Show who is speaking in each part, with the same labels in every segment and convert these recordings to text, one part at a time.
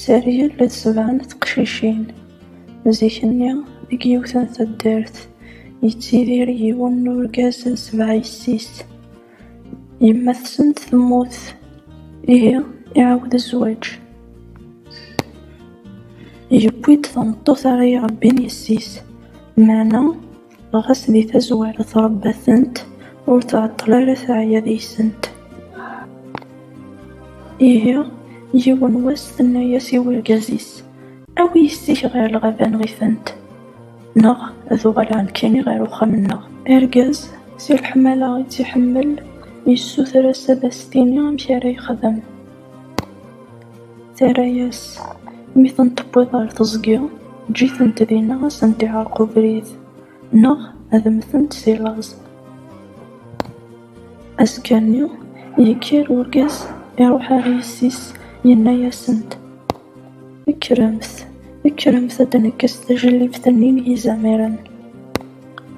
Speaker 1: Sergel d sebɛa n teqcicin. Zik-nni, deg yiwet n taddart, yettidir yiwen n urgaz d sebɛa yessi-s. Yemma-tsent temmut, ihi iɛawed zzwaǧ. Yewwi-d tameṭṭut ara irebbin yessi-s, meɛna. Ɣas di tazwara tṛebba-tent, ur tɛeṭṭel ara teɛya deg-sent. Ihi, yiwen wass tenna-yas i urgaz-is, Awi yessi-k ɣer lɣaba nɣ-itent, neɣ ad uɣaleɣ nekkini ɣer uxxam-nneɣ. Argaz, si leḥmala i tt-iḥemmel, yessuter-as ad as-tini amek ara yexdem. Terra-yas, mi ten-tewwiḍ ɣer teẓgi, eǧǧ-itent dinna ad sent-iɛerreq ubrid, neɣ ad mmtent si laẓ. Azekka-nni, yekker urgaz, iruḥ ɣer yessi-s, yenna-yasent, Kkremt, kkremt ad d-nekkes tajlibt-nni n yizamiren.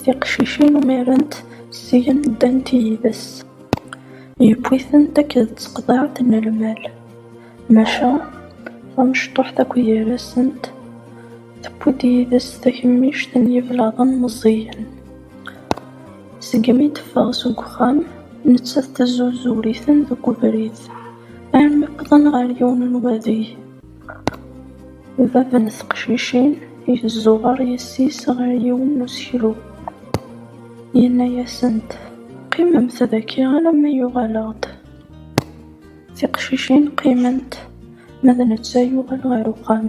Speaker 1: Tiqcicin umirent, syin ddant yid-s. Yewwi-tent akked tseqḍaɛt n lmal, maca tamecṭuḥt akk gar-asent tewwi-d yid-s takemmict n yiblaḍen meẓẓiyen. Segmi d-teffeɣ seg uxxam, nettat tezzuzur-iten deg ubrid, armi wwḍen ɣer yiwen n wadeg. Bab n teqcicin yezzuɣer yessi-s ɣer yiwen n useklu, yenna-asent, Qqimemt dagi alamma yuɣal-aɣ-d. Tiqcicin qqiment, ma d netta yuɣal ɣer uxxam.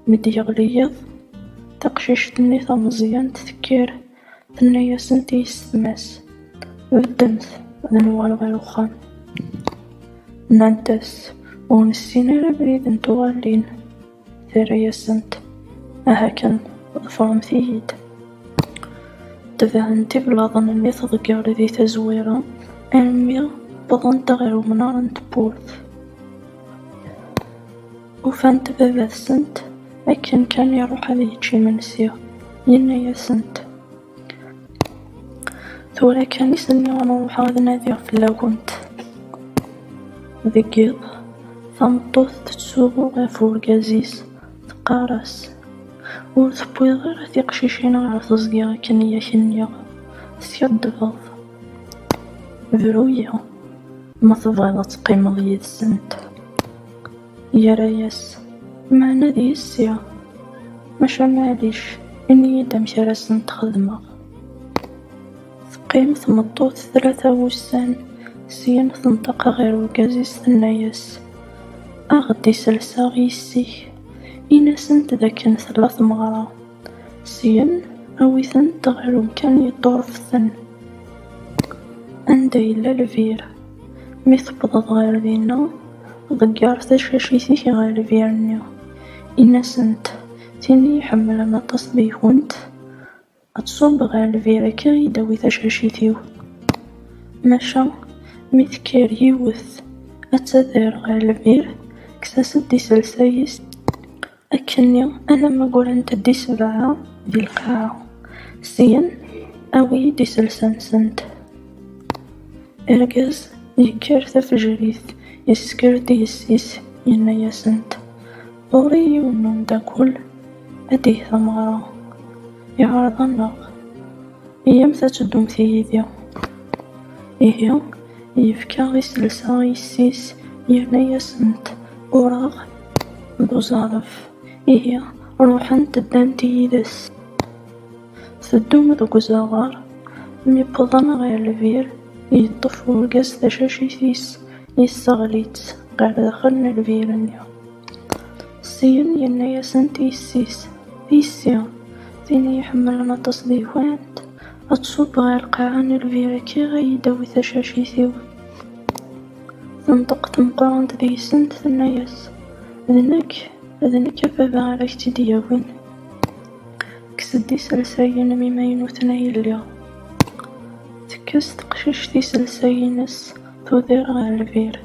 Speaker 1: Mi d-yeɣli yiḍ, taqcict-nni tameẓyant tekker. Tenna-yasent i yessetma-s, Beddemt, ad nuɣal ɣer uxxam. Nnant-as, Ur nessin ara abrid n tuɣalin. Terra-yasent, Aha kan, ḍefremt-iyi-d. Tebɛent iblaḍen-nni teḍger di tazwara armi wwḍent ɣer umnar n tewwurt. Ufant baba-tsent akken kan iruḥ ad yečč imensi, yenna-asent, Tura kan i s-nniɣ ad ruḥeɣ ad nadiɣ fell-awent. Deg yiḍ, tameṭṭut tettsuɣu ɣef urgaz-is, teqqar-as, Ur tewwiḍ ara tiqcicin ɣer teẓgi akken i ak-nniɣ, teskaddbeḍ. Bru-yi, ma tebɣiḍ ad teqqimeḍ yid-sent. Yerra-yas, Meɛna d yessi, maca maɛlic, ini-yi-d amek ara asen-t-xedmeɣ. Teqqim tmeṭṭut tlata n wussan, syin tenṭeq ɣer urgaz-is tenna-yas, Ad ɣ-d-iselseɣ yessi-k, ini-asent d akken tella tmeɣra. Syen, awi-tent ɣer umkan yeṭṭureften, anda yella lbir. Mi tewwḍeḍ ɣer dinna, ḍegger tacacit-ik ɣer lbir-nni. Ini-asent, Tin i iḥemmlen aṭas deg-went, ad tṣubb ɣer lbir akka i d-tawi tacacit-iw. Maca, mi tekker yiwet ad tader ɣer lbir, kkes-as-d iselsa-is. Akkenni alamma ggrent-d i sebɛa di lqaɛa, syen awi-yi-d iselsa-nsent. Argaz yekker tafejrit, yesker-d i yessi-s, yenna-yasent, Ɣur-i yiwen n umeddakel ad d-yeg tameɣra, iɛreḍ-aneɣ, iyyamt ad teddumt yid-i. Ihi yefka iselsa i yessi-s, yerna-yasent, Ureɣ. d uẓaref, ihi ruḥent ddant yid-s. Teddum deg uzaɣar, mi wwḍen ɣer lbir, yeṭṭef urgaz tacacit-is, yesseɣli-tt ɣer daxel n lbir-nni. Syin yenna-yasent i yessi-s, A yessi, tin i iḥemmlen aṭas deg-went, ad tṣubb ɣer lqaɛa n lbir akka ad iyi-d-tawi tacacit-iw. Tenṭeq tmeqrant deg-sent tenna-yas, D nekk, d nekk a baba ara k-tt-id-yawin. Kkes-d iselsayen-im imaynuten a yelli. Tekkes teqcict iselsayen-is tudir ɣer lbir.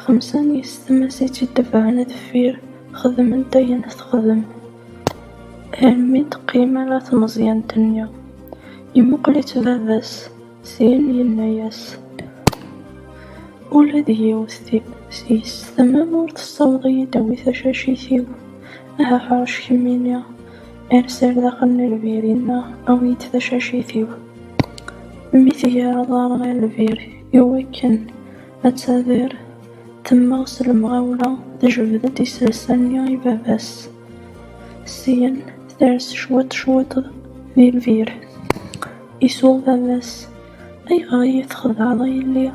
Speaker 1: Xemsa n yessetma-s i tt-id-tebɛen deffir xedment ayen texdem armi d-teqqim ala tmeẓyant-nni. Yemmuqel-itt baba-s. Sin yenna-yas, Ula d yiwet seg-s tama ur tessaweḍ ad yi-d-tawi tacacit-iw. Aha ḥṛec kemmini, ers ar daxel n lbir-inna, awi-yi-d tacacit-iw. Mi tger aḍar ɣer lbir i wakken ad tt-ader, temmeɣ s lemɣawla, tejbed-d iselsa-nni i baba-s. Syin ters cwiṭ cwiṭ di lbir. Isuɣ baba-s, Ayɣer i yi-txedɛeḍ a yelli?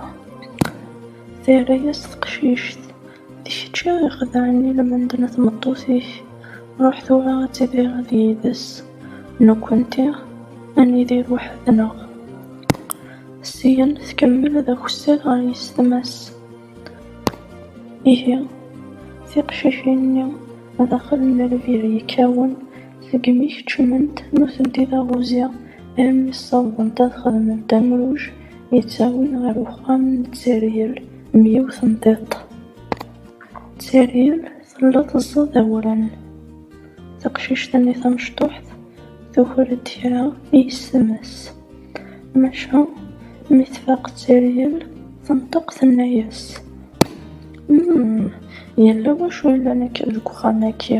Speaker 1: Terra-yas teqcict, D kečč i ɣ-ixedɛen i lmend n tmeṭṭut-ik, ruḥ tura ad tidireḍ yid-s, nekkenti ad nidir weḥd-neɣ. Syen tkemmel d akessar ɣer yessetma-s. Ihi, tiqcicin-nni daxel n lbir yekkawen, Seg imi keččment nutenti taɣuzi armi ssawḍent ad xedment amruj yettawin ɣer uxxam n Tteryel m yiwet n tiṭ. Tteryel tella teẓẓa-d awren. Taqcict-nni tamecṭuḥt tuker-d kra i yessemes. Maca mi tfaq Tteryel tenṭeq tenna-yas, Umm, yella wacu yellan akka deg uxxam-agi?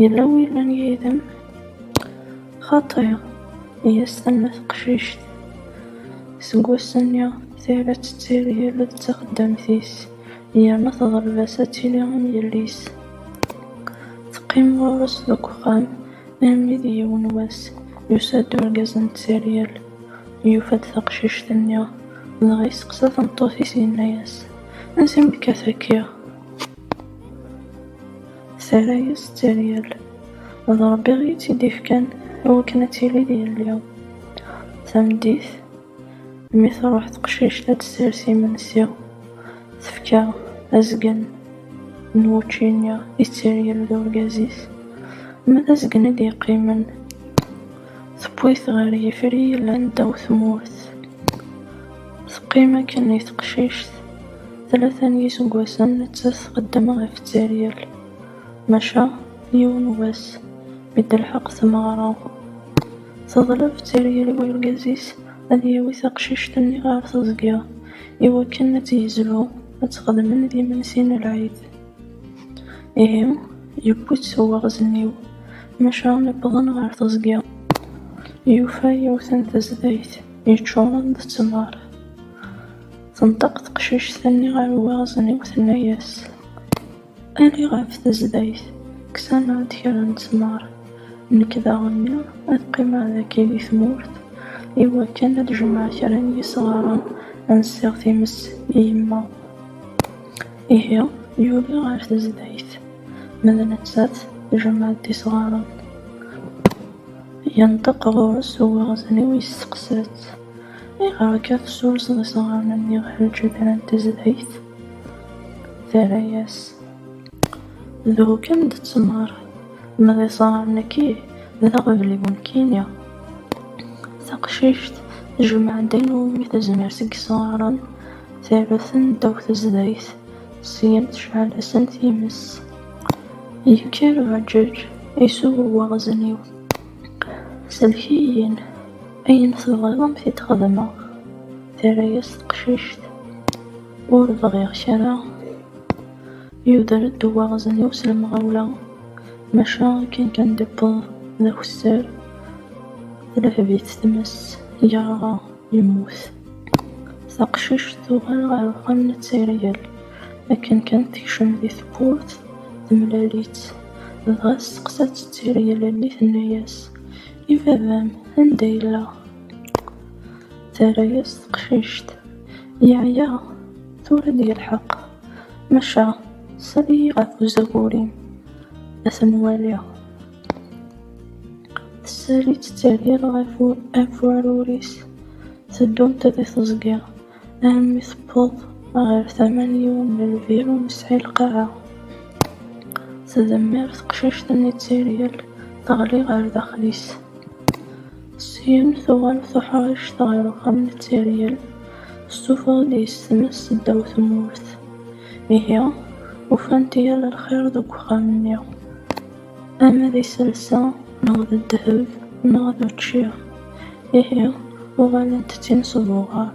Speaker 1: Yella wi llan yid-m? Xaṭi, i as-tenna teqcict. Seg wass-nni, tira d tettiryel d taxeddamt-is, yerna teḍleb-as ad tili am yelli-s. Teqqim ɣur-s deg uxxam armi d yiwen wass, yusa-d urgaz n tettiryel, yufa-d taqcict-nni, dɣa yesteqsa tameṭṭut-is, yenna-as, Ansi akka tekkiḍ? Terra-yas d teryel, d Ṛebbi i tt-id-ifkan i wakken ad tili d yelli. Tameddit, mi truḥ teqcict ad d-ters imensi, tefka azgen n wučči-nni i tteryel d urgaz-is, ma d azgen i d-yeqqimen. Tewwi-t ɣer yifri yellan ddaw tmurt. Teqqim akken i teqcict. Tlata n yiseggasen nettat txeddem ɣef tteryel. Maca yiwen wass mi d-telḥeq tmeɣra, teḍleb tteryel i urgaz-is ad yawi taqcict-nni ɣer teẓgi iwakken ad tt-yezlu ad t-xedmen d imensi n lɛid. Ihi, yewwi-tt s uwaɣezniw, maca wwḍen ɣer teẓgi, yufa yiwet n tezdayt yeččuren d ttmer. Tenṭeq teqcict-nni ɣer uwaɣezniw, tenna-as, Ali ɣef tezdayt, kkes-aneɣ-d kra n ttmer, nekk daɣen nniɣ ad qqimeɣ dagi di tmurt i wakken ad jemɛeɣ kra n yisɣaren ad nessiɣ times i yemma. Ihi, yuli ɣer tezdayt, ma d nettat, tjemɛ-d isɣaren. Yenṭeq ɣur-s uwaɣezniw yesteqsa-tt, Ayɣer akka tessurseḍ isɣaren-nni ɣer lǧedran n tezdayt? Terra-yas, D ukem d ttmer, ma d isɣaren-agi, d aɣbel i wemkini. Taqcict tjemɛ-d ayen umi tezmer seg yisɣaren. Tarut-ten ddaw tezrayt, syin tecɛel-asen times. Yekker uɛeǧǧeǧ, isuɣ uwaɣzen-iw. Sellek-iyi-n, ayen tebɣiḍ ad m-t-id xedmeɣ, terra-yas teqcict. Ur bɣiɣ kra. Yuder-d uwaɣzen-iw s lemɣawla, maca akken kan d-iwweḍ d akessar, telheb-it tmes, yerɣa. Yemmut. Taqcict tuɣal ɣer uxxam n Tteryel. Akken kan tekcem di tewwurt, temlal-itt. Dɣa testeqsa-tt Tteryel almi tenna-yas, I baba-m, anda yella? Terra-yas teqcict, Yeɛya, tura ad yelḥeq. Maca, sali-yi ɣef uzagur-im, ad ten-waliɣ. Sali tettɛeddir ɣef afwarur-is, teddunt di teẓgi, armi tewweḍ ɣer tama n yiwen n lbir ur nesɛi lqaɛa. Tdemmir teqcict-nni d tiryel, teɣli ɣer daxel-is. Syin tuɣal tuḥrict ɣer uxxam n tiryel, tessufeɣ-d yes-tmes ddaw tmurt. Ihi, ufant yal lxir deg uxxam-nni. Ama d iselsa, neɣ d ddheb, neɣ d učči, ihi uɣalent d tin s ubuɣar.